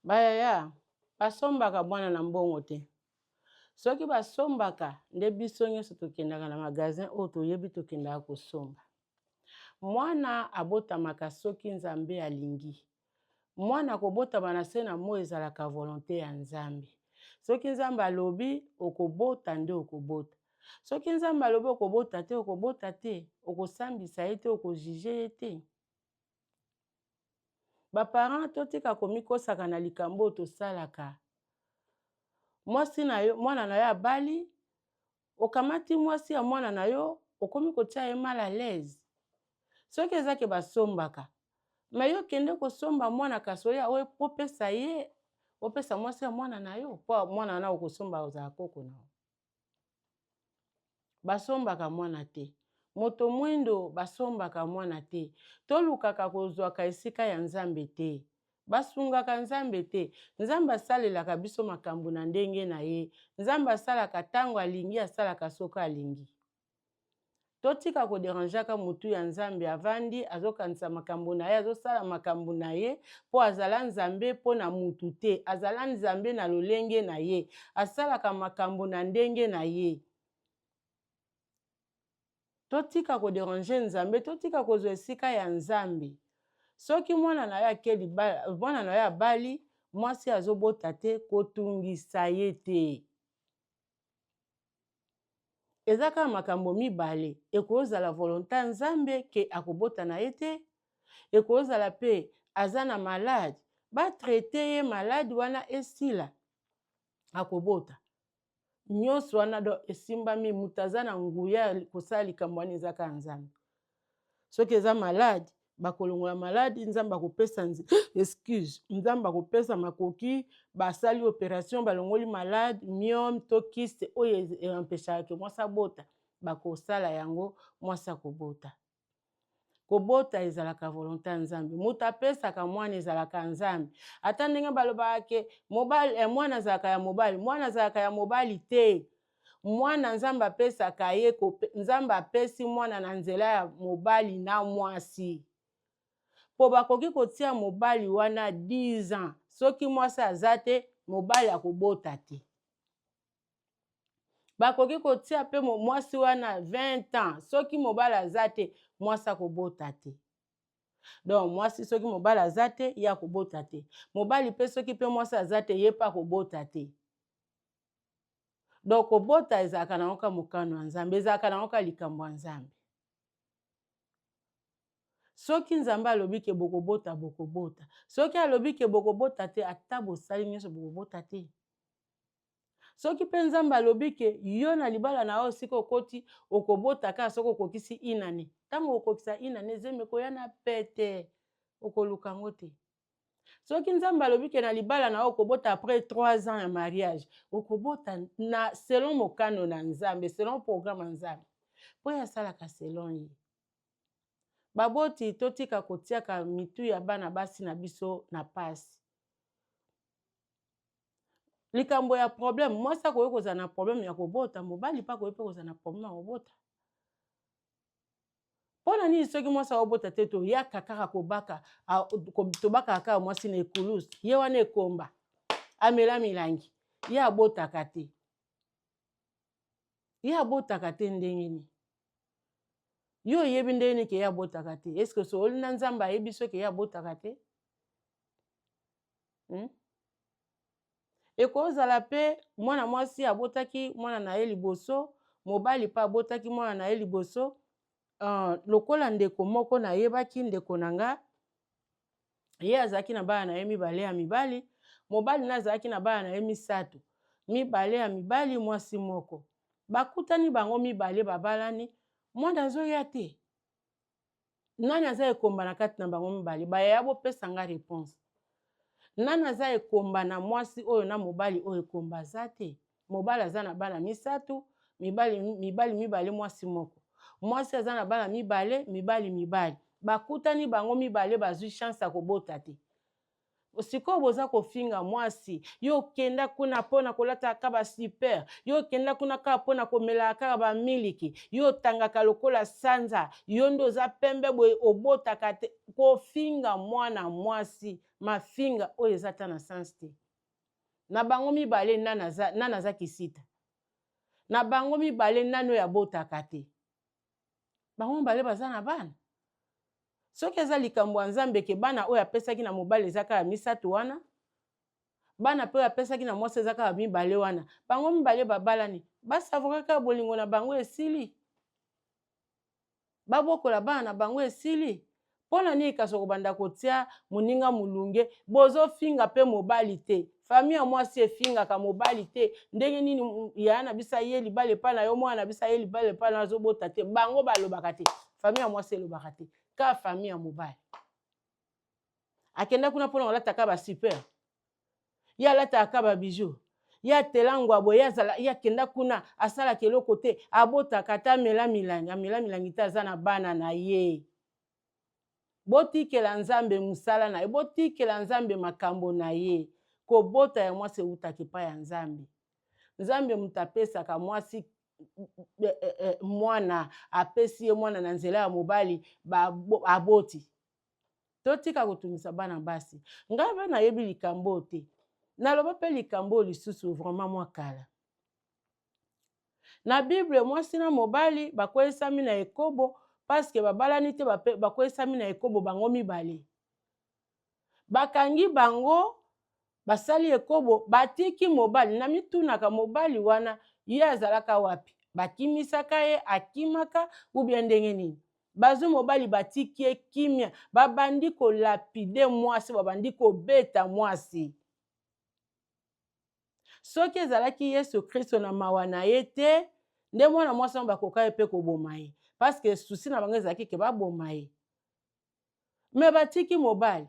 Bayaya basombaka bwana na mbongo te. Soki basombaka nde biso nyonso tokendaka na magasin oyo toyebi tokendaka kosomba. Mwana abotamaka soki Nzambe alingi. Mwana kobotama na se na moi ezalaka volonte ya Nzambe. Soki Nzambe alobi okobota nde okobota. Soki Nzambe alobi okobota te okobota te, okosambisa ye te, okojije ye te. baparent totika komikosaka na likambo oyo tosalaka mwasi na yo mwana na yo abali okamati mwasi ya mwana na yo okomi kotia ye mal à l'aise soki eza ke basombaka me yo kende kosomba mwana kasi oya oyo opesa ye opesa mwasi ya mwana na yo mpo mwana wana okosomba ozala koko na yo basombaka mwana te moto mwindo basombaka mwana te tolukaka kozwaka esika ya nzambe te basungaka nzambe te nzambe asalelaka biso makambo na ndenge na ye nzambe asalaka ntango alingi asalaka soki alingi totika koderangeaka motu ya nzambe avandi azokanisa makambo na ye azosala makambo na ye mpo azala nzambe mpo na motu te azala nzambe na lolenge na ye asalaka makambo na ndenge na ye totika koderange nzambe totika kozwa esika ya nzambe soki mwana na yo ake libala mwana na yo abali mwasi azobota te kotungisa ye te eza kaka makambo mibale ekozala volonta ya nzambe ke akobota na ye te ekozala mpe aza na malade batraite ye malade wana esila akobota nyonso wana do esimbami moto aza na nguya kosala likambo wana ezaka ya nzambe soki eza malade bakolongola maladi nzambe akopesa excuse nzambe akopesa makoki basali operation balongoli malade miome to kiste oyo empeshaka ke mwasi abota bakosala yango mwasi akobota kobota ezalaka volonte ya nzambe moto apesaka mwana ezalaka nzambe ata ndenge balobaka ke mobali eh, mwana azalaka ya mobali mwana azalaka ya mobali te mwana nzambe apesaka ye nzambe apesi mwana na nzela ya mobali na mwasi mpo bakoki kotia mobali wana 10 ans soki mwasi aza te mobali akobota te bakoki kotia mpe mwasi wana 20 ans soki mobali aza te mwasi akobota te donc mwasi soki mobali aza te ye akobota te mobali mpe soki mpe mwasi aza te ye mpe akobota te donc kobota ezalaka nango ka mokano ya nzambe ezalaka nango ka likambo ya nzambe soki nzambe alobi ke bokobota bokobota soki alobi ke bokobota te ata bosali nyonso bokobota te soki mpe nzambe alobi ke yo na libala na yo sika okoti okobota kaka soki okokisi inane ntango okokisa inane zemi ekoya na pete okoluka yango te soki nzambe alobi ke na libala na yo okobota après 3 ans ya mariage okobota na selon mokano na nzambe selon programme ya nzambe mpo ye asalaka selon ye baboti totika kotiaka mitu ya bana basi na biso na pasi likambo ya problème mwasi akoki kozala na problème ya kobota mobali mpe akoki mpe kozala na problème ya kobota mpo na nini soki mwasi aobota te toyaka kaka kobaka tobakaka kaka mwasi na ekulus ye wana ekomba amela milangi ye abotaka te ye abotaka te ndenge nini yo oyebi ndenge nini ke ye abotaka te eske osooli na nzambe ayebi soki ye abotaka te hmm? Ekozala mpe mwana mwasi abotaki mwana na ye liboso, mobali mpe abotaki mwana na ye liboso. Uh, lokola ndeko moko nayebaki ndeko na nga ye azalaki na bana na ye mibale ya mibali mobali na azalaki na bana na ye misato mibale ya mibali mwasi moko bakutani bango mibale babalani mwana azoya te nani aza ekomba na kati na bango mibale bayaya bopesa nga reponse nani aza ekomba na mwasi oyo na mobali oyo ekomba aza te mobali aza na bana misato mibali, mibali mibale mwasi moko mwasi aza na bana mibale mibali mibali bakutani bango mibale bazwi chance ya kobota te sikoyo boza kofinga mwasi yo okenda kuna mpo na kolataka kaka basiper yo okenda kuna kaka mpo na komelaka kaka bamiliki yo otangaka lokola sanza yo nde oza pembe boye obotaka te kofinga mwana mwasi mafinga oyo eza ata na sanse te na bango mibale nani aza kisita na bango mibale nani oyo abotaka te bango mibale baza na bana soki eza likambo ya nzambe ke bana oyo apesaki na mobali eza kaka misato wana bana mpe oyo apesaki na mwasi eza kaka mibale wana bango mibale babalani basavoka kaka bolingo na bango esili babokola bana na bango esili mpo na nini kasi okobanda kotia moninga molunge bozofinga mpe mobali te fami ya mwasi efingaka mobali te ndenge nini yaya na biso aye libala epai na yo mwana na biso aye libala epai na yo azobota te bango balobaka te fami ya mwasi elobaka te ka fami ya mobali akenda kuna mpona kolataka basuper ye alataka kaka ba bijoux ye atela ngwa boye azala ye akenda kuna asalaka eloko te abotaka ata amela milangi amela milangi te aza na bana na ye botikela nzambe mosala na ye botikela nzambe makambo na ye kobota ya mwasi ewutaka epai ya nzambe nzambe moto apesaka mwasi eh, eh, eh, mwana apesi ye mwana na nzela ya mobali aboti totika kotungisa bana basi ngai mpe nayebi likambo oyo te naloba mpe likambo oyo lisusu vraimen mwa kala na bible mwasi na mobali bakweyisami na ekobo paske babalani te bakweyisami na ekobo bango mibale bakangi bango basali ekobo batiki mobali na mitunaka mobali wana ye azalaka wapi bakimisaka ye akimaka ubia ndenge nini bazwi mobali batiki ye kimia babandi kolapide mwasi babandi kobeta mwasi soki ezalaki yesu kristo na mawa na ye te nde mwana mwasi yango bakoka ye mpe koboma ye parceke susi na bango ezalaki ke baboma ye me batiki mobali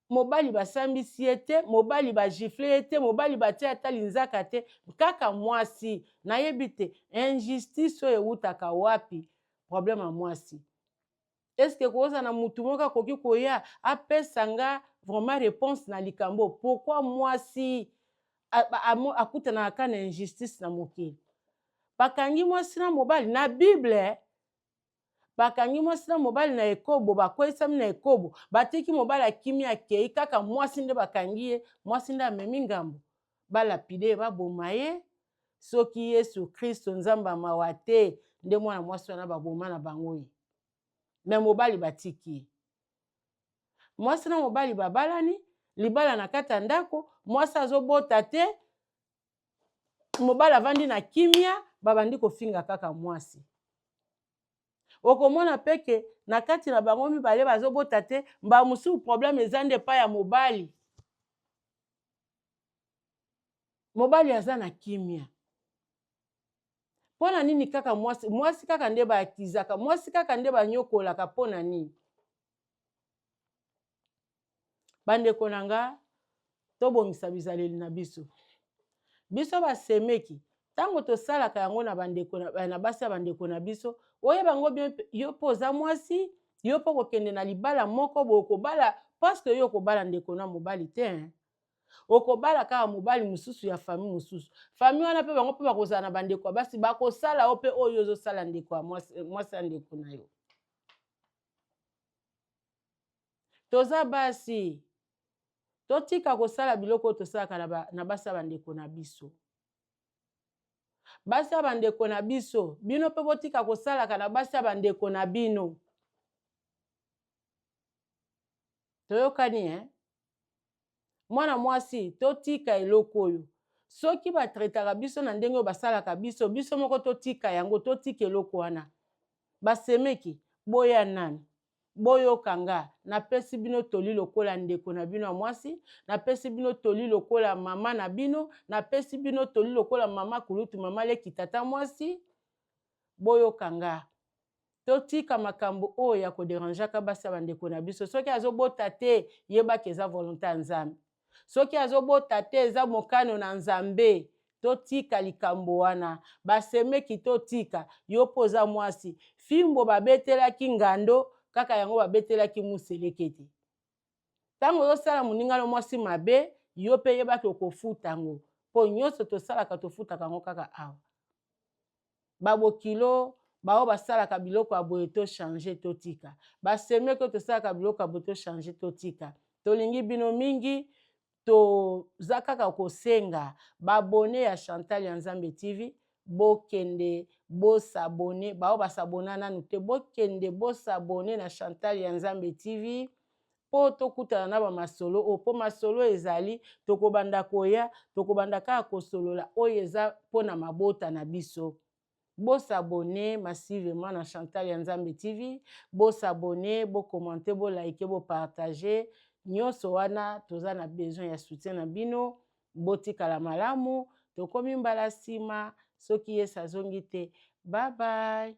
mobali basambisi ye te mobali bagifle ye te mobali batie ata linzaka te kaka mwasi nayebi te injustice oyo ewutaka wapi problème ya mwasi eske koza na motu moko akoki koya apesa nga vraiment réponse na likambo pourkui mwasi akutanaka kaka na injustice na mokili bakangi mwasi na mobali na bible bakangi mwasi na mobali na ekobo bakweyisami na ekobo batiki mobali akimi akei kaka mwasi nde bakangi ye mwasi nde amemi ngambo balapide ye baboma ye soki yesu kristo nzambe ya mawa te nde mwana mwasi wana baboma na bango ye me mobali batiki ye mwasi na mobali babalani libala na kati ya ndako mwasi azobota te mobali avandi na kimia babandi kofinga kaka mwasi okomona mpe ke na kati na bango mibale bazobota te mbala mosusu probleme eza nde epai ya mobali mobali aza na kimia mpo na nini kaka mwasi mwasi kaka nde baakizaka mwasi kaka nde banyokolaka mpo na nini bandeko na nga tobongisa bizaleli na biso biso basemeki ntango tosalaka yango na bandeko eh, na basi ya bandeko na biso oyeba yango bien yo mpo oza mwasi yo mpo kokende na libala moko bokobala paske yo okobala ndeko na mobali te hein? okobala kaka mobali mosusu ya fami mosusu fami wana mpe bango mpe bakozala na bandeko ya basi bakosala yo mpe oyo ozosala ndeko ya mwasi ya ndeko na yo toza basi totika kosala biloko oyo tosalaka na, ba, na basi ya bandeko na biso basi ya bandeko na biso bino mpe botika kosalaka na basi ya bandeko na bino toyokani eh? mwana mwasi totika eloko oyo soki batretaka biso na ndenge oyo basalaka biso biso moko totika yango totika eloko wana basemeki boya nani boyoka nga napesi bino toli lokola ndeko na bino ya mwasi napesi bino toli lokola mama na bino napesi bino toli lokola mama kulutu mama leki tata mwasi boyoka nga totika makambo oyo ya koderangeaka basi ya bandeko na biso soki azobota te yebaka eza volonte ya nzambe soki azobota te eza mokano na nzambe totika likambo wana basemeki totika yo mpo oza mwasi fimbo babetelaki ngando kaka yango babetelaki muselekete ntango ozosala moninga no mwasi mabe yo mpe yebaki okofuta yango mpo nyonso tosalaka tofutaka yango kaka awa babokilo baoyo basalaka biloko ya boye tochange totika basemeke oyo tosalaka biloko ya boye tochange totika tolingi bino mingi toza kaka kosenga babone ya chantal ya nzambe tv bokende bosabone baoyo basabona nanu te bokende bosabone na chantal ya nzambe tv mpo tokutana na bamasolo oyo mpo masolo ezali tokobanda koya tokobanda kaka kosolola oyo eza mpo na mabota na biso Bo s'abonner massivement na Chantal ya Nzambe TV, bo s'abonner, bo commenter, bo liker, bo partager. Nionso wana toza na besoin ya soutien na bino. Botikala malamu, tokomi mbala sima soki Yesu azongi te. Bye bye.